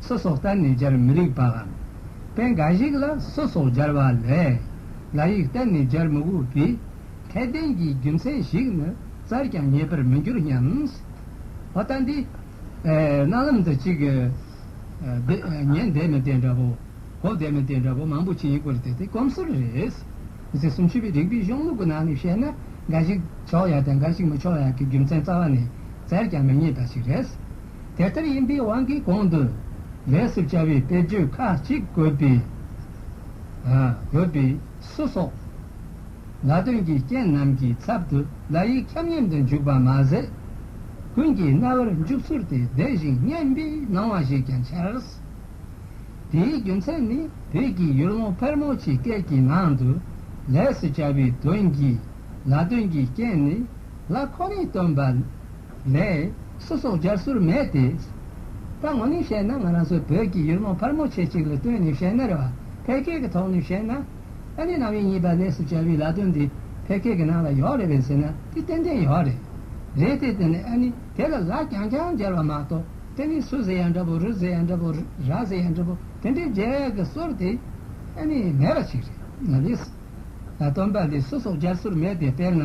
སོ་སོ་གཏན་ནས་སྦྱར་མི་རིགས་པའམ། དཔེ་འགའ་ཞིག་ལ་སོ་སོ་སྦྱར་བ་ལས། ལ་ཡིག་གཏན་ནས་སྦྱར་མི་དགོས་པའི། ཁྱད་ལྡན་གྱི་རྒྱུ་མཚན་ཞིག་ནི་རྩར་ཀྱང་ངེས་པར་མི་འགྱུར་སྙམ། བ་ལྟ་འདི། རྣ་ལམ་དུ་གཅིག། ཉན་བདེ་མི་བདེ་འདྲ་པོ། གོ་བདེ་མི་བདེ་འདྲ་པོ་མང་པོ་ཅི་ཡིན་སྐོར་དེ་དེ་གོམས་སྲོལ་རེད། མི་ཚེ་སུམ་ཅུ་པའི་རིག་པའི་གཞུང་ལུགས་ཀྱི་ནང་ནས་བཤད་ན། འགའ་ཞིག་ཆོག་ཡ་དང་འགའ་ཞིག་མི་ཆོག་ཡ་གི་རྒྱུ་མཚན་རྩ་བ་ནས་རྩར་ཀྱང་མི་ངེས་པ་ཞིག་རེད། དེ་ལྟར་ཡིན་པའི་དབང་གིས་གོང་དུ་ལས་སུ་བྱ་བའི་དཔེར་བརྗོད་ཁ་ཅིག་དགོས་པས་སུ་སོགས་ལ་དོན་གྱི་རྐྱེན་རྣམས་ཀྱི་ཚབ་ཏུ་བརྡ་ཡིག་ཁྱབ་མཉམ་དུ་འཇུག་པར་མ་ཟད། ཀུན་གྱི་རྣ་བར་འཇུག་ཚུལ་དེ་བདེ་ཞིང་སྙན་པའི་སྣང་བ་ཞིག་ཀྱང་འཆར། དེའི་རྒྱུ་མཚན་ནི་བོད་ཀྱི་ཡུལ་ལུང་ཕལ་མོ་ཆེའི་སྐད་ཀྱི་ནང་དུ་ལས་སུ་བྱ་བའི་དོན་གྱི་ལ་དོན་གྱི་རྐྱེན་ནི་ལ་ཁོ་ནས་སྟོན་པ་མེད། སུ་སོགས་སྦྱར་སྲོལ་མེད་དེ། ད་ངོ་ནས་བཤད་ན་ང་རང་ཚོའི་བོད་ཀྱི་ཡུལ་མོ་ཕར་མོ་ཆེ་གཅིག་ལ་ལྟོས་ནས་བཤད་ན་རེ་བ་ཕལ་སྐད་ཀྱི་ཐོག་ནས་བཤད་ན། ཨ་ནེ་ནམ་ཡིན་གཉིས་པ་ལས་སུ་སྦྱར་བའི་ལ་དོན་འདི་ཕལ་སྐད་ཀྱི་ནང་ལ་ཡོག་རེད་བས་ཟེར་ན་དེ་ཏན་ཏན་ཡོག་རེད། རེད་དེ་དེ་ནས་ཨ་ནེ་དེ་ལ་ལ་རྐྱང་རྐྱང་སྦྱར་བ་མ་གཏོགས་དེ་ནི་སུ་ཟེར་ཡང་འདྲ་པོ་རུ་ཟེར་ཡང་འདྲ་པོ་ར་ཟེར་ཡང་འདྲ་པོ་དེ་འདྲའི་སྦྱར་བའི་སྲོལ་དེ་ཨ་ནེ་མེད་པ་ཞིག་རེད། ལ་ལས་སུ། ལ་དོན་པ་ལས་སུ་སོགས་སྦྱར་སྲོལ་མེད་དེ་དཔེར་ན།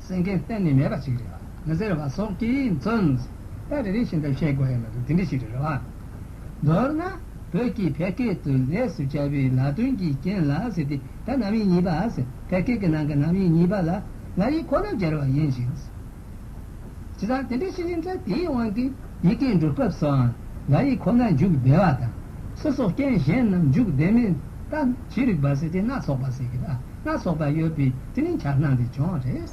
སེང་གེ་གཏན་ནས་མེད་པ་ཞིག་རེད་མི་ཟེར་བ་སོགས་ཀྱིས་མཚོན། ད་རེ་རེ་བཞིན་དུ་བཤད་དགོས་ཡོད་མེད་དུ་དེ་འདྲི་ཞིག་རེད་རེད། མདོར་ན། བོད་ཀྱིས་ཕལ་སྐད་དུ་ལས་སུ་བྱ་བའི་ལ་དོན་གྱི་རྐྱེན་ལ་ཟེར་ཏེ་ད་ནམ་ཡིན་གཉིས་པ་ཟེར་ཕལ་སྐད་ཀྱི་ནང་གི་ནམ་ཡིན་གཉིས་པ་ལ་ང་ཡིས་ཁོ་ན་སྦྱར་བ་ཡིན་ཞིང། བྱས་ཙང་དེ་འདྲའི་ཤེས་བཞིན་ཐལ་དེའི་དབང་གིས་ཡི་གེའི་འགྲོ་སྐབས་སུའང་ང་ཡིས་ཁོ་ན་འཇུག་བདེ་བ་དང། སུ་སོགས་རྐྱེན་གཞན་རྣམས་འཇུག་བདེ་མིན་ལྟ་ཇི་རིགས་པ་ཟེར་ཏེ་སྣ་ཚོགས་པ་ཟེར་གི་ཨ། ལ་སོགས་པ་ཡོད་པས་དེ་ནི་འཆར་སྣང་གི་ལྗོངས་རེད།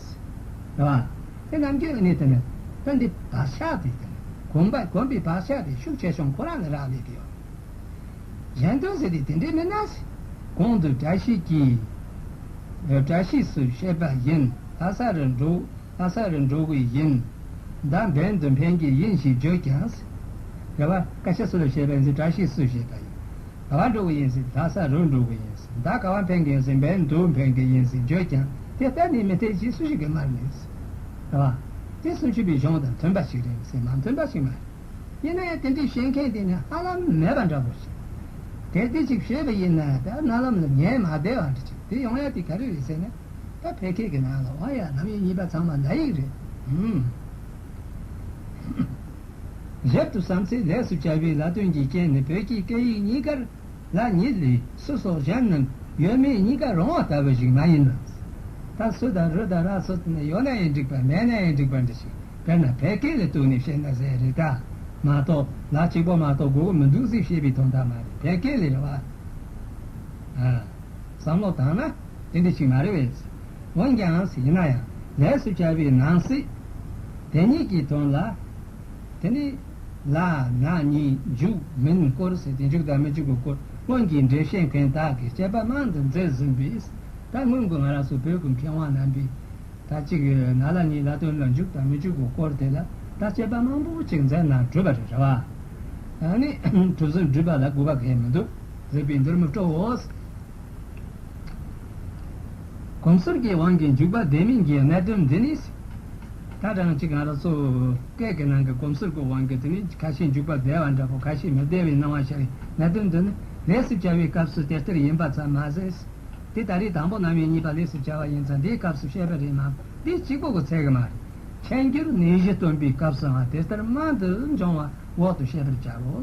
རེད་བ། དེ་རྣམས་ཀྱི་ནི་དེ་ནི་དོན་འདི་བག་ཆགས་དེ་དེ་ནི་གོམས་པ་གོམས་པའི་བག་ཆགས་དེ་ཤུགས་ཆེ་ཆུང་ཁོ་རང་ལ་རག་ལས་ཀྱི། གཞན་དོན་ཟེར་དུས་དེ་འདྲས་མིན་ན། གོང་དུ་བཀྲ་ཤིས་ཀྱིས། བཀྲ་ཤིས་སུ་བཤད་པ་བཞིན་ལྷ་ས་རུ་འགྲོ། ལྷ་ས་རུ་འགྲོ་བའི་བཞིན་མདའ་འབེན་དུ་འཕེན་གྱི་ཡིན་ཞེས་བརྗོད་ཀྱང། རེད་བ། བཀྲ་ཤིས་སུ་ལ་བཤད་པ་ཡིན་ཚེ་བཀྲ་ཤིས་སུ་བཤད་པ་ཡིན། ག་བ་འགྲོ་གི་ཡིན་ཟེར་ད་ས་རུ་འགྲོ་གི་ཡིན་ཟེར་ད་ག་བ་འཕེན་གི་ཡིན་ཟེར་འབེན་དུ་འཕེན་གི་ཡིན་ཟེར་བརྗོད་ཀྱང་དེ་ལྟ་ནི་མི་འཐད་ཅེས་སུ་ཞིག་གིས་སྨྲ་ངེས། རེད་བ། དེ་སུམ་ཅུ་པའི་གཞུང་དང་མཐུན་པ་ཞིག་རེད་ཟེར་མ་མཐུན་པ་ཞིག་མ་རེད། ཡིན་ནའི་དེ་འདྲའི་བཤད་མཁན་དེ་ནི་ཧ་ལམ་མེད་པ་འདྲ་བོ་ཞིག་རེད། དེ་ཅིག་བཤད་པ་ཡིན་ན་ད་རྣ་ལམ་ལ་ཉན་མ་བདེ་བ་འདྲ་ཅིག་དེ་ཡོང་ཡ་དེ་ག་རེ་རེད་ཟེར་ན། ད་ཕལ་སྐད་ཀྱི་ནང་ལ་དབང་ཡ་ནམ་ཡིན་གཉིས་པ་ཚང་མ་མདའ་ཡིག་རེད། རབ་ཏུ་བསམ་ཚེ་ལེགས་སོ་བྱ་བའི་ལ་དོན་གྱི་རྐྱེན་ནི་བོད་ཀྱི་སྐད་ཡིག་གཉིས་ཀར་ལ་ཉིད་ལས་སུ་སོགས་གཞན་རྣམས་ཡོད་མེད་གཉིས་ཀ་རང་དབང་ལྟ་བུ་ཞིག་མ་ཡིན་ནམ། ད་སུ་དང་རུ་དང་ར་སོགས་དེ་ནི་ཡོད་ན་ཡང་འགྲིག་པ་མེད་ན་ཡང་འགྲིག་པ་འདྲ་ཞིག་དཔེར་ན་བལ་སྐད་ལ་གཏུགས་ནས་བཤད་ན་ཟས་རེད་ད་མ་གཏོགས་ལ་གཅིག་པོ་མ་གཏོགས་དགོས་མཁོ་མི་འདུག་ཟིག་བཤད་པའི་དོན་དག་མ་རེད་བལ་སྐད་ལས་རེ་བ་ཨ། བསམ་བློ་བཏང་ན་དེ་འདྲ་ཞིག་མ་རེད་བས། འོན་ཀྱང་ཡིན་ན་ཡང་ལས་སུ་བྱ་བའི་ནང་གསེས་དེ་གཉིས་ཀྱི་དོན་ལ། དེ་ནི་ལ་ང་གཉིས་འཇུག་མིན་སྐོར་ཟེར་ཏེ་འཇུག་དང་མི་འཇུག་གི་སྐོར་སྔོན་གྱི་འགྲེལ་བཤད་མཁན་དག་གིས་དཔྱད་པ་མང་དུ་མཛད་ཟིན་པས། ད་སྔོན་གྱི་ང་རང་སོགས་བོད་ཀྱི་མཁས་དབང་རྣམ་པས་ད་གཅིག་ན་ལ་གཉིས་ལ་དོན་ལ་འཇུག་དང་མི་འཇུག་གི་སྐོར་དེ་ལ་ད་དཔྱད་པ་མང་པོ་ཅིག་མཛད་ན་འགྲུབ་པ་རེད་རེད་བ། ནི་གྲུབ་ཟིན་འགྲུབ་པ་ལ་དགོས་པ་གལ་མི་འདུག། མཛེས་པའི་འདིར་མི་སྤྲོའོ། གོང་ཟུར་གྱི་དབང་གི་འཇུག་པ་བདེན་མིན་གྱི་གནད་དོན་འདི་ནི། ད་རང་གཅིག་གང་རག་སོ། སྐད་ཀྱི་ནང་གི་གོམས་ཟུར་གྱི་དབང་གི་དེ་ནི་ཁ་ཤས་འཇུག་པ་བདེ་བ་འདྲ་བོ་ཁ་ཤས་མི་བདེ་བའི་སྣང་བ་ཤར་བའི་གནད་དོན་འདི་ནི་ལས་སུ་བྱ་བའི་སྐབས་སུ་དེ་ལྟར་ཡིན་པ་ཙམ་མ་ཟད། དེ་ལྟ་རེད་དང་པོ་རྣམ་དབྱེ་གཉིས་པ་ལས་སུ་བྱ་བ་ཡིན་ཙང་དེའི་སྐབས་སུ་བཤད་པ་རེད་མམ་དེ་གཅིག་པོ་གི་ཚད་ཀྱི་མ་རེད། མཁྱེན་གྱུར་ནད་གཞི་སྟོན་པའི་སྐབས་སུའང་དེ་ལྟར་རྨང་དུ་འབྱུང་བ་འོག་ཏུ་བཤད་པར་བྱའོ།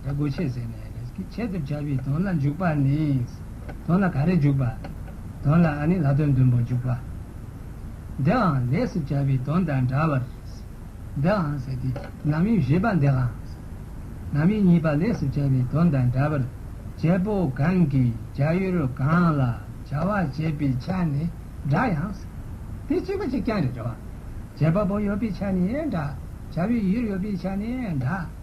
ལ་སྒོ་ཕྱེས་ཟེར་ནས་རེད། ཁྱེད་ཀྱི་བྱ་བའི་དོན་ལ་འཇུག་པ་ནི། དོན་ལ་ག་རེ་འཇུག་པ། དོན་ལ་ཨ་ནི་ལྷ་དོན་བདུན་པོ་འཇུག་པ། འདིའང་ལས་སུ་བྱ་བའི་དོན་དང་འདྲ་བར། འདིའང་ཟེར་ཏེ་ནམ་དབྱེ་བཞི་པ་འདིའང། ནམ་དབྱེ་གཉིས་པ་ལས་སུ་བྱ་བའི་དོན་དང་འདྲ་བར། བྱེད་པོ་གང་གིས་བྱ་ཡུལ་གང་ལ་བྱ་བ་བྱེད་པའི་ཆ་ནི་འདྲ་ཡང། དེ་གཅིག་པ་གཅིག་རྐྱང་རེད། བྱེད་པ་པོ་ཡོད་པའི་ཆ་ནི་འདྲ། བྱ་བའི་ཡུལ་ཡོད་པའི་ཆ་ནི་འདྲ།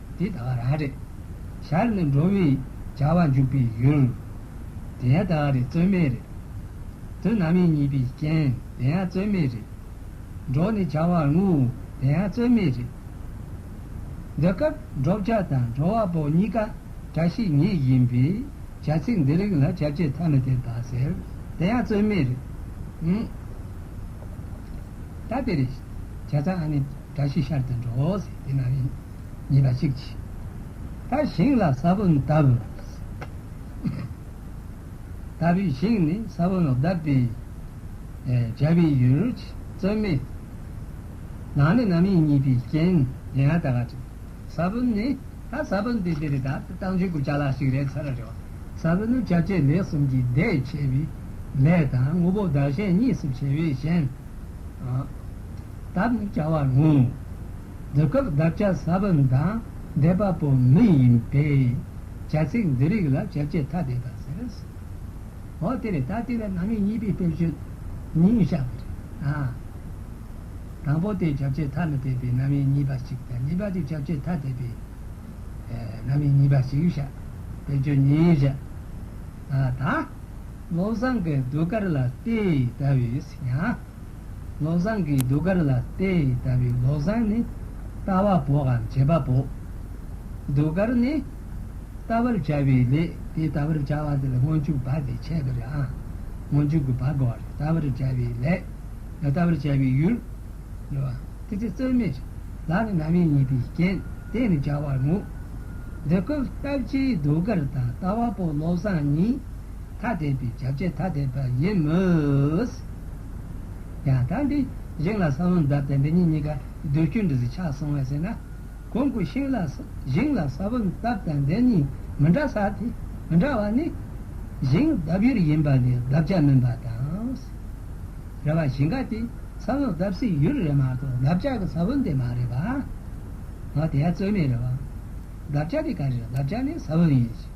འདི་དག་རང་རེད། ཞར་ནས་འགྲོ་བའི་བྱ་བ་འཇུག་པའི་ཡུལ། དེ་ཡང་དག་རེད་རྩོད་མེད་རེད། དུས་ནམ་ཡིན་གཉིས་པའི་རྐྱེན་དེ་ཡང་རྩོད་མེད་རེད། འགྲོ་ནས་བྱ་བར་ངུ་དེ་ཡང་རྩོད་མེད་རེད། འདི་སྐབས་འགྲོ་བྱ་དང་འགྲོ་བ་པོ་གཉིས་ཀ་བཀྲ་ཤིས་ཉིད་ཡིན་པས་བྱ་ཚིག་འདི་རིགས་ལ་བྱ་བྱེད་ཐ་མི་དད་པ་ཟེར་དེ་ཡང་རྩོད་མེད་རེད། ད་དེ་རེད། བྱ་ཚང་ཨ་ནི། སྒྲ་ཞིག་ཤར་ཏེ་འགྲོ། དེ་ན་རིག་ཉིད་པ་གཅིག་ཅེས་པ། ཞིང་ལ་ས་བོན་གདབ། ལྟ་བུའི་ཞིང་ནི་ས་བོན་གདབ་པའི། སྦྱར་བའི་ཡུལ་རོ་ཅི་བརྩོན་མེད། ནང་ནི་རྣམ་གཡེང་གཉིས་པའི་རྐྱེན། ས་བོན་ནི་ད་ས་བོན་དེ་འདིར་ད་བཏང་ཆོས་སྐུ་བྱ་ལ་ཞིག་རེག་ཚར་རེ་བ། ས་བོན་ནི་བྱ་བྱེད་ལས་གསུམ་གྱི་ཟླས་ཕྱེ་བའི་ལས་དང་དངོས་པོ་བདག་གཞན་གཉིས་སུ་ཕྱེ་བས་གཞན། འདབ་ནི་བྱ་བ་རུང། འདི་སྐབས་འདབ་བྱ་ས་བོན་དང་འདྲེས་པ་པོ་མི་ཡིན་པས། བྱ་ཚིག་འདི་རིགས་ལ་བྱ་བྱེད་ཐ་དད་པ་ཟེར། འོ་དེ་ལས་ད་ལྟའི་བར་ནང་ངེས་གཉིས་པའི་དཔེར་བརྗོད་གཉིས་བཞག་པ་རེད། དང་པོ་དེ་བྱ་བྱེད་ཐ་མི་དད་པའི་རྣམ་དབྱེ་གཉིས་པ་ཞིག་དང་གཉིས་པ་དེ་བྱ་བྱེད་ཐ་དད་པའི་རྣམ་དབྱེ་གཉིས་པ་ཞིག་བཞག་དཔེར་བརྗོད་གཉིས་བཞག་ད། བློ་བཟང་གིས་ཟློས་གར་ལ་ལྟོས་ལྟ་བས་ཡང། ལོ་བཟང་གི་གདུགས་དཀར་ལ་ལྟེ་ཡི་ལྟ་བུའི་ལོ་བཟང་ནི་ལྟ་བ་པོ་གམ་བྱེད་པ་པོ། གདུགས་དཀར་ནི། བལྟ་བར་བྱ་བའི་ལས་དེ་བལྟ་བར་བྱ་བ་དེ་ལ་སྔོན་འཇུག་བ་དེ་འཆད་པ་རེད་ཨང། སྔོན་འཇུག་གི་བ་དགོས་པ་རེད་བལྟ་བར་བྱ་བའི་ལས། བལྟ་བར་བྱ་བའི་ཡུལ། རེད་བ། དེ་ཚེ་རྩོལ་མེད་ལ་ནི་རྣམ་དབྱེ་གཉིས་པའི་རྐྱེན་དེས་ནི་སྦྱར་བར་ངོ། འདི་སྐབས་ལྟ་བྱའི་གདུགས་དཀར་དང་ལྟ་བ་པོ་ལོ་བཟང་གཉིས། ཐ་དད་པའི་བྱ་བྱེད་ཐ་དད་པ་ཡིན་མོད། ཡང་དག་འདི་བཞེངས་ལ་ས་བོན་འཛབ་དང་འདི་གཉིས་གཉིས་ཀ་ཟློས་སྐྱོན་འདྲ་ཟིག་ཆགས་སོང་བས་ཟེར་ན། གོང་གི་ཤིང་ལ་བཞེངས་ལ་ས་བོན་འཛབ་དང་འདི་གཉིས་མི་འདྲ་ས་དེ་མི་འདྲ་བ་ནི། བཞེངས་ལྡབ་ཡུར་ཡིན་པ་ལས་ལྡབ་བྱ་མིན་པ་དང། རེ་བ་ཞིང་ཁ་དེ་ས་བོན་འཛབ་སའི་ཡུར་རེད་མ་གཏོགས་ལྡབ་བྱ་གི་ས་བོན་དེ་མ་རེད་པ། འོ་དེ་ཡང་རྩོད་མེད་རེད་བ། ལྡབ་བྱ་དེ་ག་རེད་ལྡབ་བྱ་ནི་ས་བོན་ཡིན་ཞིང།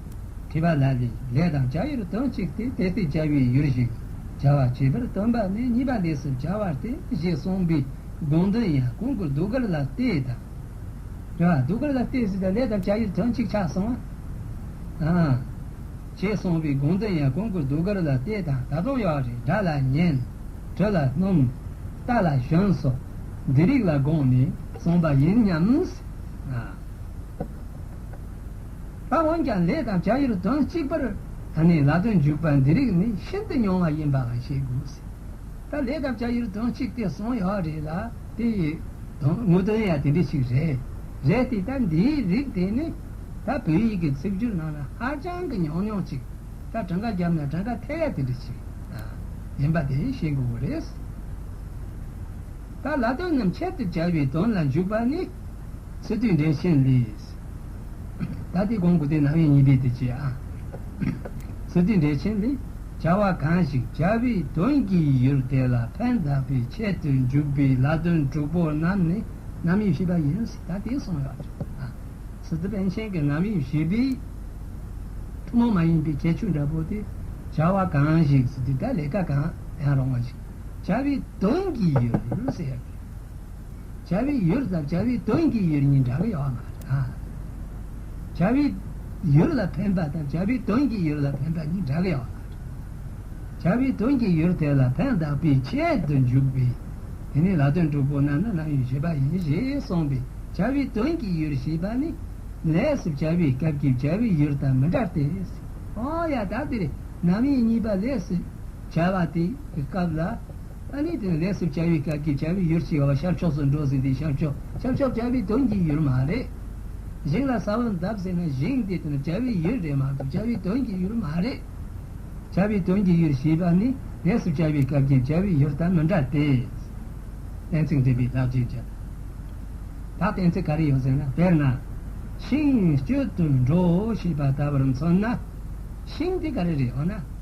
བྲིས་པ་ལ་ལས་ལས་དང་བྱ་ཡུལ་དོན་གཅིག་སྟེ་དེ་སྟེ་བྱ་བའི་ཡུལ་ཞེས་བྱ་བ་བྱེད་པར་སྟོན་པ་ནི་གཉིས་པ་ལས་སུ་བྱ་བ་སྟེ་ཞེས་གསུངས་པའི་དགོངས་དོན་ཡང་གོང་གི་གདུགས་དཀར་ལ་ལྟོས་དང། དེ་བ་གདུགས་དཀར་ལ་ལྟོས་སུ་ལས་དང་བྱ་ཡུལ་དོན་གཅིག་ཆ་གསུམ་མ་དང། ཞེས་གསུངས་པའི་དགོངས་དོན་ཡང་གོང་གི་གདུགས་དཀར་ལ་ལྟོས་དང་ད་དུང་གཡོག་རེས་སྒྲ་ལ་ཉན། དྲི་ལ་སྣུམ། རྟ་ལ་ཞོན་སོགས་འདི་རིགས་ལ་དགོངས་ནས་གསུངས་པ་ཡིན་སྙམ། ད་འོན་ཀྱང་ལས་དང་བྱ་ཡུལ་དོན་གཅིག་པར་ད་ནི་ལ་དོན་འཇུག་པ་འདི་རིགས་ནི་ཤིན་ཏུ་ཉུང་བ་ཡིན་པ་ལ་ཤེས་དགོས། ད་ལས་དང་བྱ་ཡུལ་དོན་གཅིག་དེ་གསུངས་ཡོད་རེད་ལ་དེ་ཡི་དངོས་དོན་ཡང་དེ་འདྲ་ཞིག་རེད། རེད་དེ་ད་འདིའི་རིགས་དེ་ནི་ད་བོད་ཡིག་གི་ཚིག་སྦྱོར་ནང་ན་ཧ་ཅང་གི་ཉུང་ཉུང་ཅིག་ད་གྲངས་ཀ་བརྒྱབ་ན་གྲངས་ཀ་ཐེ་ཡ་དེ་འདྲ་ཞིག་ཡིན་པ་དེ་ཤེས་དགོས་རེད། ད་ལ་དོན་རྣམས་ཁྱད་དུ་བྱ་བའི་དོན་ལ་འཇུག་པ་ནི་སི་ཏུས་འགྲེལ་ཆེན་ལས། ད་ལྟའི་གོང་དགུ་སྟེ་ནང་བའི་གཉིས་པའི་དུས་ཀྱི་ཨ། ཟུར་ཚིག་འགྲེལ་ཆེན་འདི་བྱ་བ་གང་ཞིག་བྱ་བའི་དོན་གྱི་ཡུལ་དེ་ལ་ཕན་གདགས་པའི་ཆེད་དུ་འཇུག་པའི་ལ་དོན་དྲུག་པོ་རྣམས་ནི་རྣམ་དབྱེ་བཞི་པ་ཡིན། ད་ལྟའི་གསུངས་ཡོད་ཀྱི་ཨ། ཟུར་ཚིག་དཔེ་ཆེན་གྱི་རྣམ་དབྱེ་བཞི་པའི་ཐུན་མོང་མ་ཡིན་པའི་ཁྱད་ཆོས་འདྲ་པོ་དེ་བྱ་བ་གང་ཞིག་ཟུར་ཚིག་དག་ལས་ཀ་གང་ཡང་རུང་བ་ཞིག་བྱ་བའི་དོན་གྱི་ཡུལ་ཟེར་ཡོད་ཀྱི། བྱ་བའི་ཡུལ་ཟབ་བྱ་བའི་དོན་གྱི་ཡུལ་གཉིས་འདྲ་བའི་དབང་ངམ། བྱ་བའི་ཡུལ་ལ་ཕན་པ་དང་བྱ་བའི་དོན་གྱི་ཡུལ་ལ་ཕན་པ་གཉིས་འདྲ་བའི་དབང་ངམ། བྱ་བའི་དོན་གྱི་ཡུལ་དེ་ལ་ཕན་གདགས་པའི་ཆེད་དུ་འཇུག་པས་དེ་ནི་ལ་དོན་གྲུབ་པོ་རྣམས་ལ་རྣམ་གཡེང་བྱེད་པ་ཡིན་ཞེས་གསུངས་པས་བྱ་བའི་དོན་གྱི་ཡུལ་ཞེས་པ་ནི་ལས་སུ་བྱ་བའི་སྐབས་ཀྱི་བྱ་བའི་ཡུལ་དང་མི་འདྲ་སྟེ། ཡང་དག་འདིར་རྣམ་གཡེང་གཉིས་པ་ལས་སུ་བྱ་བ་དེའི་སྐབས་ལ་ཨ་ནི་དོན་ལེགས་སུ་བྱ་བའི་སྐབས་ཀྱི་བྱ་བའི་ཡུལ་ཞེས་བ་ཤར་ཕྱོགས་སུ་འགྲོ་ཟེར་དེ་ཤར་ཕྱོགས་ཤར་ཕྱོགས་བྱ་བའི་དོན་གྱི་ཡུལ་མ་རེད། བཞེངས་ལ་ས་བོན་གདབ་ཟེར་ན་བཞེངས་དེ་དོན་བྱ་བའི་ཡུལ་རེད་མ་གཏོགས་བྱ་བའི་དོན་གྱི་ཡུལ་མ་རེད། བྱ་བའི་དོན་གྱི་ཡུལ་ཞེས་པ་ནི་ལེགས་སུ་བྱ་བའི་སྐབས་ཀྱི་བྱ་བའི་ཡུལ་དང་མི་འདྲ་སྟེ། གཏན་ཚིགས་འདྲེན་པའི་བདག་རྗེས་ཀྱི་བདག་གཏན་ཚིགས་ག་རེ་ཡོད་ཟེར་ན་དཔེར་ན། ཤིང་སྐྱོད་དུ་འགྲོ་ཞེས་པ་ལྟ་བུར་མཚོན་ན། ཤིང་དེ་ག་རེ་རེད་འོ་ན།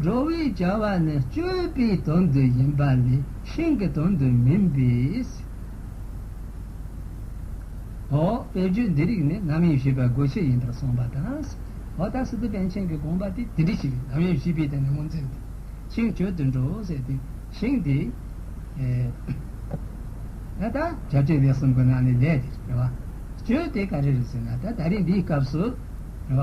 འགྲོ་བའི་བྱ་བ་ནི་སྤྱོད་པའི་དོན་དུ་ཡིན་པ་ལས་ཤིང་གི་དོན་དུ་མིན་པས་སོ། དཔེར་བརྗོད་འདི་རིགས་ནི་རྣམ་དབྱེ་བྱེད་པའི་སྒོ་ཕྱེ་ཡིན་པར་གསུངས་པ་དང། ཨོ་ད་སི་ཏི་པཎ་ཆེན་གྱི་དགོངས་པ་དེ་དེ་འདྲི་ཞིག་རྣམ་དབྱེ་བྱེད་པའི་སྟེང་ནས་ངོ་འཛིན་ཏེ། ཤིང་སྤྱོད་དུ་འགྲོ་ཟེར་ཏེ་ཤིང་དེ། ད་ལྟ་བྱ་སྤྱོད་ལས་གསུམ་གྱི་ནང་ནས་ལས་དེ་རེད་བ། སྤྱོད་དེ་ག་རེ་རེད་ཟེར་ན་ད་ལྟ་རིང་འདིའི་སྐབས་སུ་རེད་བ།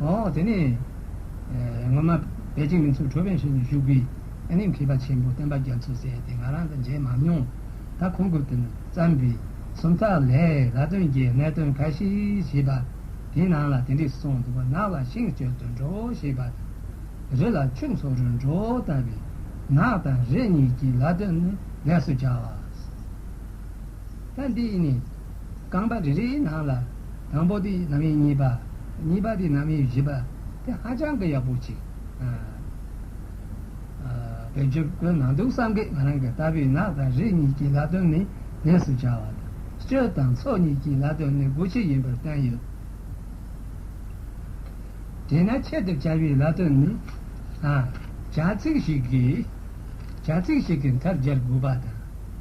འོ་དེ་ནས། ངོ་མ་བད་ཅིང་མི་ཚུགས་གྲོ་བན་ཞོན་དུ་བཞུགས་པའི། ཨེ་ནི་མཁས་པ་ཆེན་པོ་བསྟན་པ་རྒྱ་མཚོ་ཟེར་དེ་ང་རང་དང་མཇལ་མ་མྱོང། ད་ཁོང་གིས་དོན་བརྩམས་པའི་སུམ་རྟགས་ལས་ལ་དོན་གྱི་གནད་དོན་འགའ་ཞིག་བྱིས་པ་དེའི་ནང་ལ་དེ་འདྲས་སུ་སོང་འདུག་པ་ནགས་ལ་ཤིང་བསྐྱོད་དུ་འགྲོ་ཞེས་པ་དང། རི་ལ་ཁྱུང་འཚོ་རུ་འགྲོ་ལྟ་བུའི། ནགས་དང་རི་གཉིས་ཀྱི་ལ་དོན་ནི་ལས་སུ་བྱ་བ། ལྷ་འདི་ཡི་ནི། རྐང་པ་རེ་རེའི་ནང་ལ། དང་པོ་དེ་ནམ་ཡིན་གཉིས་པ། གཉིས་པ་དེ་ནམ་ཡིན་བཞི་པ། དེ་ཧ་ཅང་གི་ཡག་པོ་གཅིག། བོད་ཆོས་སྒོའི་ནང་དུ་སངས་རྒྱས་ང་རང་གི་ལྟ་བུས་ནགས་དང་རི་གཉིས་ཀྱི་ལྷ་སྟོན་ནི་གནས་སུ་བྱ་བ་དང། སྤྱོད་དང་ཚོགས་གཉིས་ཀྱི་ལྷ་སྟོན་ནི་སྒོ་ཕྱི་ཡིན་པར་བསྟན་ཡོད། དེས་ན་ཆེད་དུ་བྱ་བའི་ལྷ་སྟོན་ནི། བྱ་ཚིག་ཞིག་གིས་མཐར་སྦྱར་དགོས་པ་དང།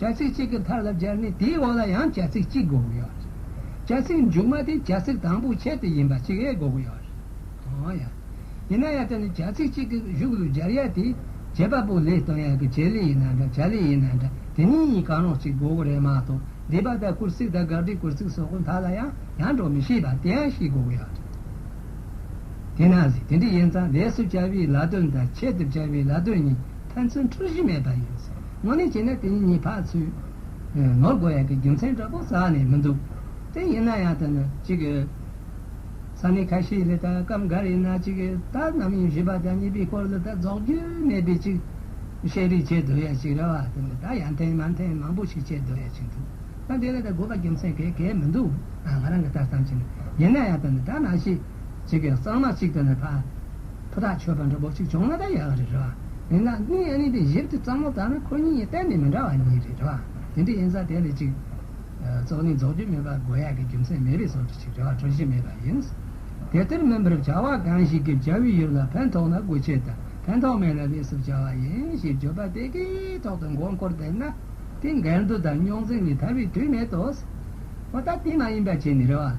བྱ་ཚིག་གཅིག་གི་མཐར་ལ་སྦྱར་ནས་དེའི་འོག་ལ་ཡང་བྱ་ཚིག་གཅིག་འགོག་དགོས་ཡོད། བྱ་ཚིག་མཇུག་མ་དེ་བྱ་ཚིག་དང་པོའི་ཁྱད་དུ་ཡིན་པ་གཅིག་ཡས་འགོག་དགོས་ཡོད། ཡང་ཡང། ཡིན་ན་ཡང་དེ་ནི་བྱ་ཚིག་གཅིག་གི་གཞུག་ལུས་སྦྱར་ཡས་དེ། བྱེད་པ་པོ་ལས་དང་ཡང་གི་བྱེད་ལས་ཡིན་ན་འདྲ་བྱ་ལས་ཡིན་ན་འདྲ་དེ་གཉིས་གཉིས་གང་རུང་གཅིག་འགོག་གི་རེད་མ་གཏོགས་སྡེ་པ་དང་གུར་ཚིག་དང་དགག་སྒྲིག་གུར་ཚིག་སོགས་ཀྱི་མཐར་ལ་ཡང་ཡང་འགྲོ་མི་ཤེས་པ་དེ་ཡང་ཤེས་དགོས་ཡོད། དེས་ན། དེ་འདྲ་ཡིན་ཙང་ལས་སུ་སྦྱར་བའི་ལ་དོན་དང་ཁྱད་དུ་སྦྱར་བའི་ལ་དོན་གཉིས། ཕན་ཚུན་འཁྲུག་གཞི་མེད་པ་ཡིན། མོ་ནི་བྱས་ན་དེ་གཉིས་བག་ཚུད། ནོར་དགོ་ཡག་གི་རྒྱུ་མཚན་འདྲ་པོ་ཟག་ནས་མི་འདུག་དེ་ཡིན་ན་ཡང་ད་ནི་གཅིག་གི། ས་གནས་ཁ་ཤས་ལས་ད་སྐབས་འགར་ཡིན་ན་གཅིག་གི་ད་ནམ་ཡིན་བཞི་པ་དང་གཉིས་པའི་སྐོར་ལ་ད་རྫོགས་རྒྱུ་མེད་པའི་གཅིག། བཤད་རིགས་བྱེད་འདོད་ཡག་ཅིག་རེ་བ་དེ་ནི་ད་ཡང་འཐེན་མ་འཐེན་མང་པོ་ཞིག་བྱེད་འདོད་ཡག་ཅིག་འདུག་ད་འདི་ལ་ད་དགོས་པ་རྒྱུ་མཚན་གས་གས་མི་འདུག་ང་རང་གི་ལྟ་སྟངས་ཀྱིས་ནི་ཡིན་ན་ཡང་ད་ནི་ད་མ་ཤེས། གཅིག་གི་གཙང་མ་གཅིག་ད་ནི་ཕ། ཕུ་ཐག་ཆོད་པ་འདྲ་པོ་གཅིག་བྱུང་ན་ད་ཡག་རེད་རེད་བ། མིན་ན་སྣི་ཡ་ནི་དེ་ཞིབ་ཏུ་བརྩམ་མོ་ད་ནི་ཁོ་གཉིས་གཏན་ནས་མི་འདྲ་བ་གཉིས་རེད་རེད་བ། དེ་འདྲ་ཡིན་ས་དེ་ལས་གཅིག། བཙོག་ནི་རྫོགས་རྒྱུ་མེད་པ་དགོས་ཡག་གི་རྒྱུ་མཚན་མེད་པའི་སོར་གཅིག་རེད་བ་གྲུ་བཞི་མེད་པ་ཡིན། དེ་ལྟར་མིན་པར་བྱ་བ་གང་ཞིག་གིས་བྱ་བའི་ཡུལ་ལ་ཕན་ཐོགས་ན་དགོས་ཆེད་དུ་ཕན་ཐོགས་མེད་ལ་ལས་སུ་བྱ་བ་ཡིན་ཞེས་བརྗོད་པ་དེ་གའི་ཐོག་ཏུ་མགོ་འཁོར་བསྡད་ན། དེ་འགལ་འདུ་དང་རྙོག་འཛིང་ལས་ཐར་བའི་དུས་མེད་དོ། ད་ལྟ་དེ་མ་ཡིན་པ་བྱས་ནས་རེད་བ།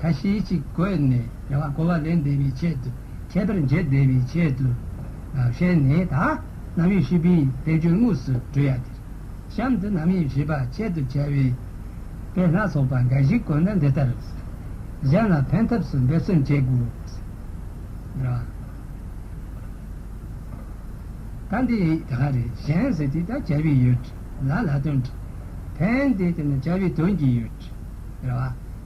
ཁ་ཞེ་གཅིག་བཀོད་ནས་རྒྱལ་བ་ཀོ་བ་ལེན་བདེ་བའི་ཆེད་དུ་ཁྱད་པར་འབྱེད་བདེ་བའི་ཆེད་དུ། ཧྲེ་ནི་ད་རྣམ་དབྱེ་བཞི་པའི་བསྟན་བཅོས་དངོས་སུ་བགྲོས་ཡ་འདིར། གཤམ་དུ་རྣམ་དབྱེ་བཞི་པ་ཆེད་དུ་བྱ་བའི་དཔེ་སྣ་ཚོགས་པ་འགའ་ཞིག་བཀོད་ན་འདི་ལྟར། གཞན་ལ་ཕན་ཐབས་སུ་འབད་བརྩོན་བྱེད་དགོས། ད་འདི་ཡི་ད་ག་རེ་གཞན་ཟེར་དེ་ད་བྱ་བའི་ཡོད། ལ་ལ་དོན། ཕན་བདེ་དེ་ནི་བྱ་བའི་དོན་གྱི་ཡོད།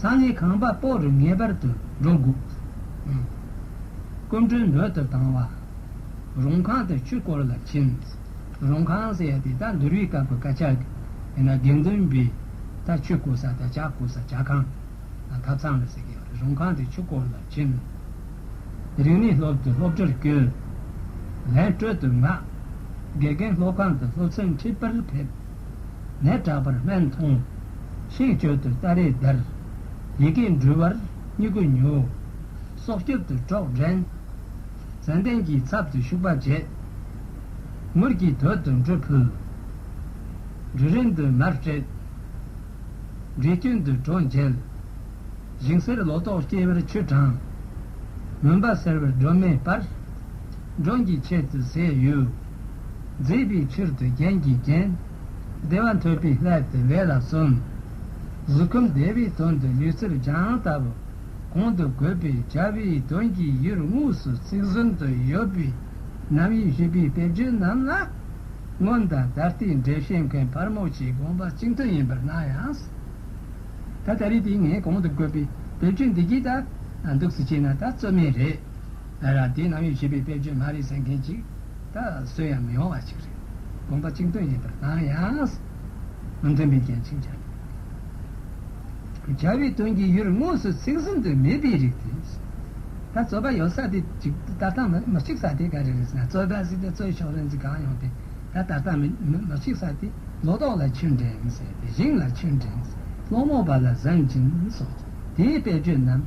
ས་ལས་གང་བབས་དཔོག་རུ་ངེས་པར་དུ་འགྲོ་དགོས། སྐུ་མགྲོན་འབོད་དུ་བཏང་བ། རུང་ཁང་དུ་ཆུ་བསྐོར་ལ་ཕྱིན། རུང་ཁང་ཟེར་ཡ་དེ་དག་འདུར་བའི་སྐབས་ཀྱི་སྐད་ཆ། ཡིན་ན་དགེ་འདུན་པའི་དག་ཆུ་བསྐོལ་ས་དང་བྱ་བསྐོལ་ས་བྱ་ཁང། ཐབ་ཚང་ལ་ཟེར་གི་ཡོད་རེད་རུང་ཁང་དུ་ཆུ་བསྐོར་ལ་ཕྱིན། རིག་གནས་སློབ་དུ་སློབ་གྲྭར་བསྐྱོད། ལན་སྤྲོད་དུ་མངགས། དགེ་རྒན་སློབ་ཁང་དུ་སློབ་ཚན་འཁྲིད་པར་ཕེབས། ལས་དྲག་པར་སྨན་མཐོང། ཤིང་སྤྱོད་དུ་སྟ་རེས་བརྡར། ཡི་གེ་འབྲུལ་བར་སྙི་གུ་ཉོ། སྲོག་སྐྱོབ་ཏུ་གྲོགས་འདྲེན། ཙན་དན་གྱི་ཚབ་ཏུ་ཤུག་པ་བྱེད། མུར་གྱི་དོད་དུ་འབྲུ་ཕུལ། འབྲུ་རིན་དུ་མར་སྤྲད། འབྲས་སྐྱོན་དུ་གྲོ་མཇལ། ཞིང་སེར་ལོ་ཏོག་སྐྱེ་བར་ཆུ་གྲང། མུན་པ་སེལ་བར་སྒྲོན་མེ་སྤར། འབྲོང་གི་ཆེད་དུ་ཟས་གཡོས། མཛེས་པའི་ཕྱིར་དུ་རྒྱན་གྱིས་བརྒྱན། བདེ་བ་འཐོལ་པའི་སླད་དུ་ལས་ལ་བརྩོན། གཟུགས་ཁམས་བདེ་བའི་དོན་དུ་ལུས་ཚིར་སྦྱངས་བཏབ། གོང་དུ་བཀོད་པའི་བྱ་བའི་དོན་གྱི་ཡུལ་དངོས་སུ་ཚིག་ཟུར་དུ་ཡོད་པའི་རྣམ་དབྱེ་ཞུས་པའི་དཔེ་བརྗོད་རྣམས་ལ། སྔོན་དང་ད་ལྟའི་འགྲེལ་བཤད་མཁན་ཕར་མོ་ཆེའི་དགོངས་པ་གཅིག་མཐུན་ཡིན་པར་སྣང་ཡང། ད་ལྟ་རིགས་དེ་ངས་གོང་དུ་བཀོད་པའི་དཔེ་བརྗོད་འདི་རྒྱུད་ལྟར་འདུག་ཟེར་ཅེ་ན་ད་རྩོད་མེད་རེད། ཨ་རག་དེ་ནང་ཡོད་ཞེས་པའི་དཔེར་བརྗོད་མ་རེད་ཟེར་མཁན་གཅིག་ད་གཟོད་ཡང་མི་ཡོང་བ་ཞིག་རེད། དགོངས་པ་གཅིག་མཐུན་ཡིན་པར་སྣང་ཡང། མི་མཐུན་པའི་རྐྱེན་ཕྱིན་ཆད་དང། བྱ་བའི་དོན་གྱི་ཡུལ་དངོས་སུ་ཚིག་ཟིན་དུ་མེད་པའི་རིགས་དེ། ད་རྩོད་པ་ཡོད་ས་དེ་གཅིག་ད་ལྟ་མི་གཅིག་ས་དེ་ག་རེ་རེད་ཟེར་ན་རྩོད་པ་ཟེར་ཏེ་རྩོད་ཆོག་རེད་འཛི་གང་ཡོང་དེ་ད་ད་ལྟ་མི་གཅིག་ས་དེ་ལོ་ཏོག་ལ་ཆུ་འདྲེན་ཟེར་ཏེ་ཞིང་ལ་ཆུ་འདྲེན་ཟེར་སློང་མོ་བ་ལ་བཟང་སྦྱིན་སོགས་དེའི་དཔེར་བརྗོད་རྣམས།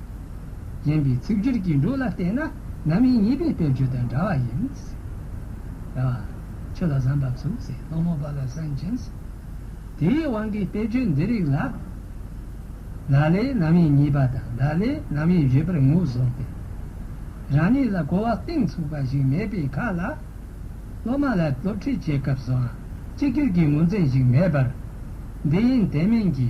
གཞན་པའི་ཚིག་སྦྱོར་གྱི་འགྲོས་ལ་བལྟས་ན་ན་མི་གཉིས་པའི་དཔེར་བརྗོད་དང་འདྲ་བ་ཡིན། རེད་བ། ཆོས་ལ་བཟང་པར་ཚུགས་ཟེར་སློང་མོ་པ་ལ་སེམས་ཅན་ཟེར། དེའི་དབང་གིས་དཔེར་བརྗོད་འདི་རིགས་ལ། ལ་ལས་ན་མི་གཉིས་པ་དང་ལ་ལས་ན་མི་བཞི་པར་ངོས་བཟུང་སྟེ། རང་ཉིད་ལ་གོ་བ་གཏིང་ཚུགས་པ་ཞིག་མེད་པའི་ཁ་ལ། སློབ་མ་ལ་སློབ་ཁྲིད་བྱེད་སྐབས་སུའང་གཅིག་གྱུར་གྱི་ངོས་འཛིན་ཞིག་མེད་པར། འདི་ཡིན་དེ་མིན་གྱི་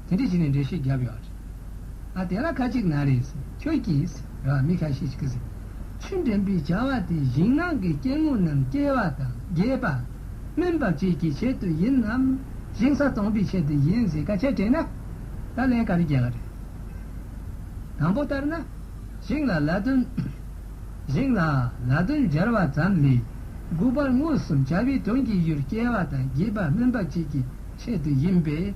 དེ་འདྲི་བྱས་ནས་འགྲེལ་བཤད་བརྒྱབ་ཡོད་རེད། ཨ་དེ་ལ་ཁ་ཅིག་ན་རེས་ཁྱོད་ཀྱིས་ར་བ་མི་ཁ་ཤས་ཤིག་གཟིགས། ཆུ་འདྲེན་པའི་བྱ་བ་དེ་ཞིང་ནང་གི་སྐྱེ་དངོས་རྣམས་སྐྱེ་བ་དང་རྒས་པ། སྨིན་པ་བཅས་ཀྱི་ཆེད་དུ་ཡིན་ནམ། ཞིང་ས་སྟོང་པའི་ཆེད་དུ་ཡིན་ཟེར་ཁ་ཆད་དྲན་ན། ད་ལན་ག་རེ་རྒྱག་གི་རེད། དང་པོ་ལྟར་ན། ཞིང་ལ་ལ་དོན། ཞིང་ལ་ལ་དོན་སྦྱར་བ་ཙམ་ལས། དགུ་པར་མངོན་སུམ་བྱ་བའི་དོན་གྱི་ཡུལ་སྐྱེ་བ་དང་རྒས་པ་སྨིན་པ་བཅས་ཀྱི་ཆེད་དུ་ཡིན་པས།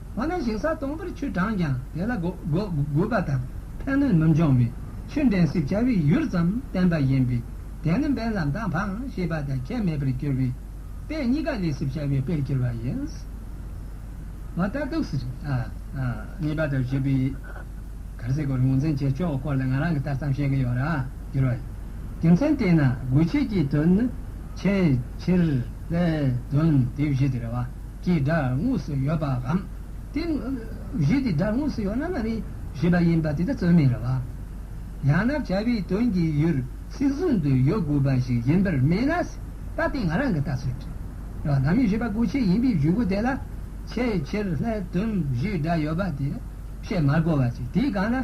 འོ་ན་ཞིང་ས་སྟོང་པར་ཆུ་དྲངས་ཀྱང་དེ་ལ་རྒུད་པ་དང་ཕན་གནོད་མི་འབྱུང་བས་ཆུ་འདྲེན་སྲིབ་བྱ་བའི་ཡུལ་ཙམ་བསྟན་པ་ཡིན་པས་དེ་ནི་འབེན་ལ་མདའ་འཕངས་ཞེས་པ་དང་ཁྱད་མེད་པར་གྱུར་པས་དཔེ་གཉིས་ཀ་ལས་སྲིབ་བྱ་བའི་དཔེར་གྱུར་པ་ཡིན། མ་རྟ་གདུགས་སུ་གཉིས་པ་དང་བཞི་པའི་གར་སའི་སྐོར་ངོས་འཛིན་བྱེད་ཕྱོགས་སྐོར་ལ་ང་རང་གིས་ལྟ་སྟངས་བཤད་ཀྱི་ཡོད་ར་གྱུར་བ་ཡིན། རྒྱུ་མཚན་དེས་ན་རྒུད་བྱེད་ཀྱི་དོན་ནི་ཆེས་ཆེར་ལས་དོན་དེ་བཞི་དེ་རེད་བ། ཀྱི་སྒྲ་དངོས་སུ་ཡོད་པའམ། དེ་བཞི་དེ་སྒྲ་དངོས་སུ་ཡོད་ན་མ་རིག་བཞི་པ་ཡིན་པ་དེ་ལྟར་རྩོད་མེད་རེད་བ། ཡང་ན་བྱ་བའི་དོན་གྱི་ཡུལ་སྲིད་བཟུང་དུ་ཡོད་དགོས་པ་ཞིག་ཡིན་པར་སྨྲས་ན། ད་ལྟའི་ང་རང་གི་ལྟ་ཚུལ་དེ་ལ་ལམ་ཡུལ་བཞི་པ་གོ་ཆེད་ཡིན་པའི་བཞུགས་སྒོ་དེ་ལ་ཆེས་ཆེར་ལྷའི་དོན་བཞི་སྒྲ་ཡོད་པ་དེ་བཤད་མ་དགོས་བ་ཅིག་དེའི་གང་ན།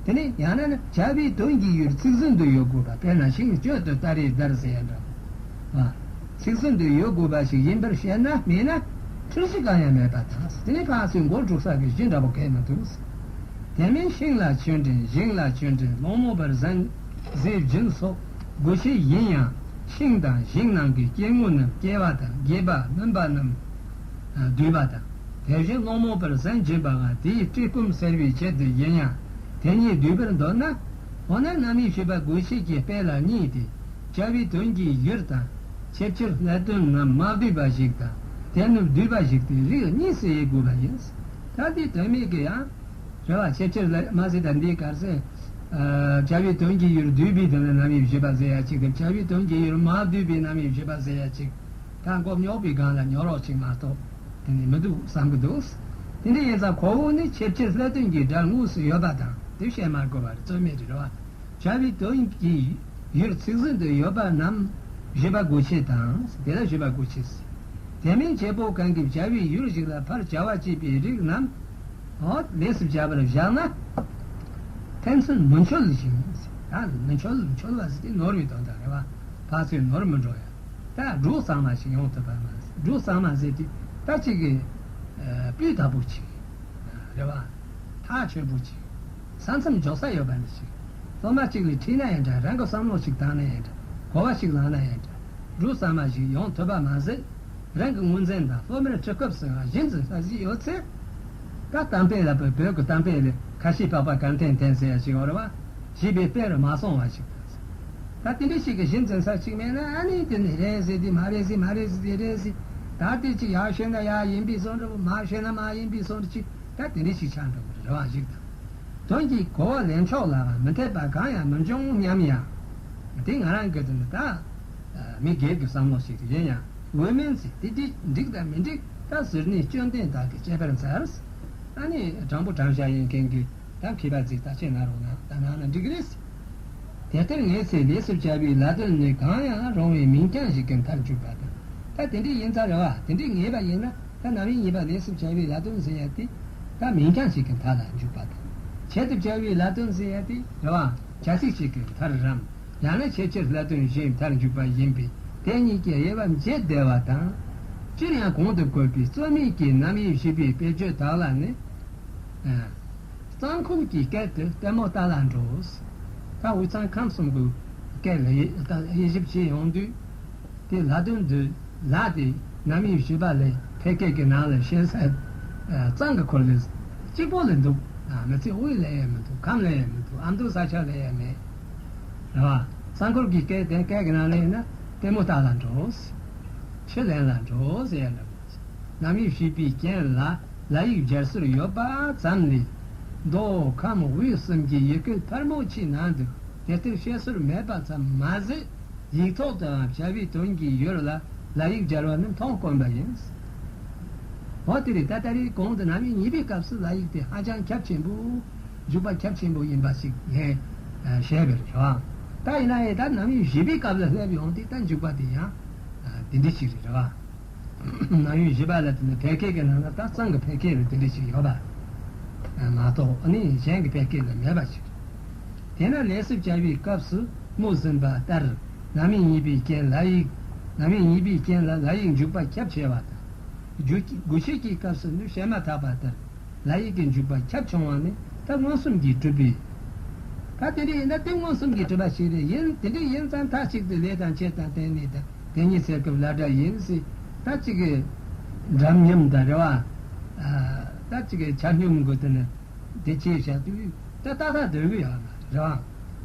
དེ་ནས་ཡང་ན་ན་བྱ་བའི་དོན་གྱི་ཡུལ་སྲིད་བཟུང་དུ་ཡོད་དགོས་པ་དཔེར་ན་ཤིང་གཅོད་དུ་སྟ་རེ་སྒྲར་ཟེར་ཡང་འདྲ་བ། ཚིག་ཟིན་དུ་ཡོད་དགོས་པ་ཞིག་ཡིན་པར་བཤད་ན། མེད་ན་འཁྲུལ་གཞི་གང་ཡང་མེད་པ་དང་ཟིན་གང་ཟིན་མགོ་འགྲོ་ས་གི་གཞི་འདྲ་པོ་གས་མི་འདུག། དེ་མིན་ཤིང་ལ་ཆོས་འབྲེལ་ཤིང་ལ་ཆོས་འབྲེལ་སློང་མོ་བར་གཟན། གཟི་བྱིན་སོགས་དགོས་ཆེ་ཡིན་ཡང་ཤིང་དང་ཤིང་ནང་གི་སྐྱེ་དངོས་རྣམས་སྐྱེ་བ་དང་རྒས་པ་སྨིན་པ་རྣམས་སྡུད་པ་དང། དེ་བཞིན་སློང་མོ་བར་གཟན་སྦྱིན་པའང་དེའི་བཀྲེས་སྐོམ་བསལ་བའི་ཆེད་དུ་ཡིན་ཡང་དེ་གཉིས་སྡུད་པར་འདོད་ན། འོ་ན་རྣམ་དབྱེ་ཞེས་པ་དགོས་ཆེད་ཀྱི་དཔེ་ལ་གཉིས་ཏེ། བྱ་བའི་དོན་གྱི་གཞིར་དང། ཆེད་ཕྱིར་སླད་དོན་རྣམས་མ་བསྡུས་པ་ཞིག་དང། དེ་ནི་བསྡུས་པ་ཞིག་སྟེ་རིགས་གཉིས་སུ་དབྱེ་དགོས་པ་ཡིན། ད་ལྟའི་དོན་མེད་ཀྱི་ཡང། ཟེར་བ་ཆེད་ཕྱིར་སླད་དོན་མ་ཟེར་ད་འདིའི་གར་ཟེར། བྱ་བའི་དོན་གྱི་གཞིར་བསྡུས་པའི་དོན་ལ་རྣམ་དབྱེ་བཞི་པ་ཟེར་ཡ་གཅིག་སྟེ་བྱ་བའི་དོན་གྱི་གཞིར་མ་བསྡུས་པའི་རྣམ་དབྱེ་བཞི་པ་ཟེར་ཡ་གཅིག། ད་མགོ་རྙོག་པའི་སྒང་ལ་ཉོག་རོགས་ཅིག་མ་གཏོགས་དེ་ནི་མི་འདུག་བསམ་གྱི་འདུག། དེ་འདྲ་ཡིན་ཙང་ཁོ་བོ་ནི་ཆེད་ཕྱིར་སླད་དོན་གྱི་སྒྲར་དངོས་སུ་ཡོད་པ་དང་དེ་བཤད་མ་དགོས་པར་རྩོད་མེད་རེད་བ། བྱ་བའི་དོན་གྱི་ཡུལ་ཚིག་ཟིན་དུ་ཡོད་པ་རྣམས་བཞི་པ་དགུ་ཕྱེད་དང། དེ་ལ་བཞི་པ་དགུ་ཕྱེད་ཟེར། དེ་མིན་བྱེད་པོ་གང་གིས་བྱ་བའི་ཡུལ་གཅིག་ལ་ཕར་བྱ་བ་བྱེད་པའི་རིགས་རྣམས་ལས་སུ་བྱ་བར་བཞག་ན། ཕན་ཚུན་མི་འཆོལ་ཞིང། མི་འཆོལ་འཆོལ་བ་ཟེར་ནི་ནོར་བའི་དོན་དང་རེ་བ་བག་ཚོས་ནོར་མི་འགྲོ་ཡང། ད་འབྲུག་གཙང་མ་ཞིག་ཡོང་ཐུབ་པར་མ་ཟད་འབྲུག་གཙང་མ་ཟེར་དུས་ད་ཅིག་གི་སྤུས་དག་པོ་ཅིག་རེ་བ་ཐག་ཆོད་པོ་ཅིག། ས་མཚམས་འཇོག་ས་ཡོད་པ་ནི་ཞིག། སློབ་མ་གཅིག་ལས་ཁྲིད་ན་ཡང་འདྲ་རང་གི་བསམ་བློ་ཞིག་བཏང་ན་ཡང་འདྲ་གོ་བ་ཞིག་ལངས་ན་ཡང་འདྲ། འབྲུག་ཟ་མ་ཞིག་ཡོང་ཐུབ་པ་མ་ཟད། རང་གི་དངུལ་འཛིན་དང་སློབ་མའི་ཁྲིད་སྐབས་སུའང་གཞི་འཛིན་ས་ཞིག་ཡོད་ཚེ། ད་གཏམ་དཔེ་ལ་བོད་ཀྱི་གཏམ་དཔེ་ལས་ཁ་ཤས་པགས་པ་གངས་ཐན་ཐན་ཟེར་བ་ཞིག་ཨོར་བ་ཞེས་པའི་དཔེ་རུ་མ་སོང་བ་ཞིག་བཏགས་སོང། ད་དེ་འདྲ་ཞིག་གི་གཞི་འཛིན་ས་ཞིག་མེད་ན་ཨ་ནི་དེ་ནི་རེད་ཟེར་དུས་མ་རེད་ཟེར་མ་རེད་ཟེར་དུས་རེད་ཟེར། ད་དེ་ཅིག་ཡག་ཤོས་ན་ཡག་ཡིན་པའི་བསམ་འགྲུབ་མ་ཤོས་ན་མ་ཡིན་པའི་བསམ་འགྲུབ་ཅིག། ད་དེ་འདྲའི་ཞིག་ཆགས་འགྲོ་གི་རེད་བ་ཞིག་དང། དོན་གྱིས་གོ་བ་ལེན་ཕྱོགས་ལ་མི་འཐད་པ་གང་ཡང་མི་འབྱུང་སྙམ་ཡང། དེ་ང་རང་གི་དོན་དུ་ད། མི་སྒེར་གྱི་བསམ་བློ་ཞིག་ཏུ་ཡིན་ཡང་འོས་མིན་ཚེ་འདི་འདི་འགྲིག་དང་མི་འགྲིག་ད་ཟེར་ནས་སྐྱོན་ལྡན་དག་གི་དཔྱད་པར་འཛར། ད་ནི་དྲང་པོ་དྲང་བཞག་ཡིན་མཁན་གྱི་དག་གིས་པར་རྫིག་ད་ཁྱེད་ང་རོ་ན་ད་ང་ན་འགྲིག་གི་རེད། དེ་ལྟར་ངས་ཚེ་ལས་སུ་བྱ་བའི་ལ་དོན་ནི་གང་ཡང་རུང་བའི་མིང་རྐྱང་ཞིག་གི་མཐར་འཇུག་པ་དང། ད་དེ་འདྲའི་ཡིན་ཚར་རེ་བ་དེ་འདྲའི་ངེས་པ་ཡིན་ན། ད་ནང་མི་གཉིས་པ་ནས་སུ་བཅའ་བའི་ལ་སྟོན་ཟེར་ཡ་དེ། ད་མིང་གྲངས་ཤིག་གི་མཐའ་ལ་འཇུག་པ་དང། ཆེད་དུ་བཅའ་བའི་ལ་སྟོན་ཟེར་ཡ་དེ་རེད་བ། བྱ་ཚིག་ཅིག་གི་མཐར་རམ། ཡང་ན་ཆེད་ཆེར་ལ་སྟོན་གཞན་མཐར་འཇུག་པ་ཡིན་པས་དེ་གཉིས་ཀྱི་དབྱེ་བ་འབྱེད་བདེ་བ་དང། སྤྱིར་ཡང་གོང་དུ་བཀོད་པའི་རྩོད་མེད་ཀྱི་རྣམ་དབྱེ་བཞི་པའི་དཔེ་བརྗོད་དག་ལ་ནི། གཙང་ཁུག་གི་སྐད་དུ་ལྟད་མོ་བལྟ་ལ་འགྲོ། ད་འུ་ཚང་ཁམས་གསུམ་གྱི་སྐད་ལ་དབྱེ་ཞིབ་བྱེད་ཡོང་དུས། དེ་ལྷ་དོན་འདུས་ལགས་ཀྱིས་ནམ་ཡིན་ཞུས་པ་ལས་ཕལ་སྐད་ཀྱི་ནང་ལ་ཤེས་གསལ་གཙང་གི་འཁོར་ལོའི་གཅིག་པོ་ལས་འདུག་མི་ཚེ་དབུས་ལས་ཡས་མི་འདུག་ཁམས་ལས་ཡས་མི་འདུག་ཨ་མདོའི་ས་ཆ་ལས་ཡས་མེད། རེད་བ། གཙང་འཁོར་གྱི་སྐད་དེ་སྐད་ཀྱི་ནང་ལས་ཡིན་ན་ལྟད་མོ་བལྟ་ལ་འགྲོའོ། ཁས་ལེན་ལ་འགྲོའོ་ཟེར་ཡས་མེད་མོད། ནམ་ཡིན་ཞུས་པའི་རྐྱེན་ལ་ལ་ཡིག་སྦྱར་སྲོལ་ཡོད་པ་ཙམ་ལས། མདོ་ཁམས་དབུས་གསུམ་གྱི་ཡི་གེ་ཕལ་མོ་ཆེའི་ནང་དུ་དེ་ལྟར་བཤད་སྲོལ་མེད་པ་ཙམ་མ་ཟད། ཡིག་ཐོག་ཏུའང་བྱ་བའི་དོན་གྱིས་ཡོད་ལ་ལ་ཡིག་སྦྱར་བ་ནི་མཐོང་དཀོན་པ་ཡིན། འོ་དེ་རིང་ད་ལྟ་རེའི་གོང་དུ་ནང་མི་གཉིས་པའི་སྐབས་སུ་ལ་ཡིག་དེ་ཧ་ཅང་ཁྱབ་ཆེན་པོ། འཇུག་པ་ཁྱབ་ཆེན་པོ་ཡིན་པ་ཞིག་ངས་བཤད་པར་བྱ། ད་ཡིན་ན་ཡང་ད་ནང་མི་བཞི་པའི་སྐབས་ལ་སླེབས་ཡོང་སྟེ་ད་འཇུག་པ་དེ་ཡང་དེ་འདྲི་ཞིག་རེད། ནང་མི་བཞི་པ་ལ་དེ་ནི་ཕལ་སྐད་ཀྱི་ནང་ན་སྟག་ཚང་གི་ཕལ་སྐད་ལ་དེ་འདྲི་ཞིག་ཡོད་པ་མ་གཏོགས་ནི་གཞན་གྱི་ཕལ་སྐད་ལ་མེད་པ་ཞིག་རེད། དེས་ན་ལས་སུ་བྱ་བའི་སྐབས་སུ་རྨུ་ཟིན་པ་ལྟར་ལམ་མེ་ཉིད་པའི་རྐྱེན་ལ་ཡིག། ལམ་མེ་ཉིད་པའི་རྐྱེན་ལ་ལ་ཡིག་འཇུག་པ་ཁྱབ་ཆེ་བ་དང། དགུ་བྱེད་ཀྱི་སྐབས་སུ་ནི་བཤད་མ་ཐག་པ་ལྟར་ལ་ཡིག་གི་འཇུག་པ་ཁྱབ་ཆུང་བ་ནི་ཐབས་མངོན་སུམ་གྱིས་གྲུབ་པས། ད་དེ་འདྲ་ཡིན་ན་ཐེབས་མངོན་སུམ་གྱིས་གྲུབ་པ་ཞིག་རེད་ཡིན་དེ་འདྲ་ཡིན་ཙང་མཐའ་གཅིག་ཏུ་ལས་དང་ཆེད་དང་དེ་གཉིས་དང་དེ་གཉིས་ཟེར་སྐབས་ལ་འདྲ་ཡིན་སྲིད་ད་ཅི་གི། འདྲ་མཉམ་དང་རེ་བ། ད་ཅི་གི་ཆ་སྙོམས་དགོས་དོན་ནི་དེ་ཆེས་བྱ་དུས། ད་ལྟ་ཁ་དོན་གྱི་ཡང་རང་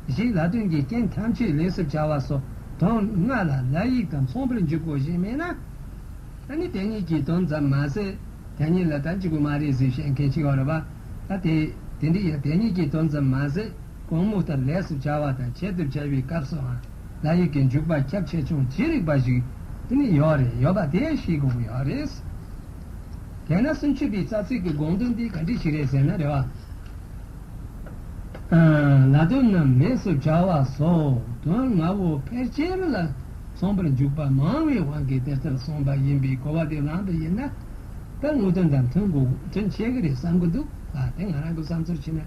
བཞིན་ལ་དོན་གྱི་རྐྱེན་ཐམས་ཅད་ལས་སུ་བྱ་བ་སོགས་དོན་ལྔ་ལ་ལ་ཡིག་དང་མཚུངས་པར་འཇུག་གོ་ཞེས་སྨྲས་ན། ནི་དེ་གཉིས་ཀྱི་དོན་ཙམ་མ་ཟད་དེ་གཉིས་ལ་དམ་ཅིག་གོ་མ་རེད་ཟེར་བཤད་མཁན་ཅིག་ཡོད་རེད་པ། ད་དེ་དེ་འདྲའི་ཡང་དེ་གཉིས་ཀྱི་དོན་ཙམ་མ་ཟད་གོང་མུ་ལྟར་ལས་སུ་བྱ་བ་དང་བྱེད་དུ་བྱ་བའི་སྐབས་སུའང་ལ་ཡིག་གི་འཇུག་པ་ཁྱབ་ཆེ་ཆུང་ཇི་རིགས་པ་ཞིག་ནི་ཡོད་རེད་ཡོད་པ་དེ་ཤེས་དགོས་ཀྱི་ཡོད་རེད། དེས་ན་སུམ་ཅུ་པའི་རྩ་ཚིག་གི་དགོངས་དོན་འདི་ག་འདྲི་ཞིག་རེད་ཟེར་ན་རེ་བ། ལ་དོན་རྣམས་མེད་སོ་བྱ་བ་སོགས་དོན་ལྔ་བོ་ཕལ་ཆེར་ལ་མཚུངས་པར་འཇུག་པ་མང་བའི་དབང་གིས་དེ་ལྟར་གསུངས་པ་ཡིན་པའི་གོ་བ་དེ་བླངས་པ་ཡིན་ན། ད་དངོས་དོན་དང་མཐུན་དགོས་དོན་ཆེ་གི་རེད་བསམ་གི་འདུག་ལ་དེ་ང་རང་གི་བསམ་ཚུལ་ཕྱིན་ན།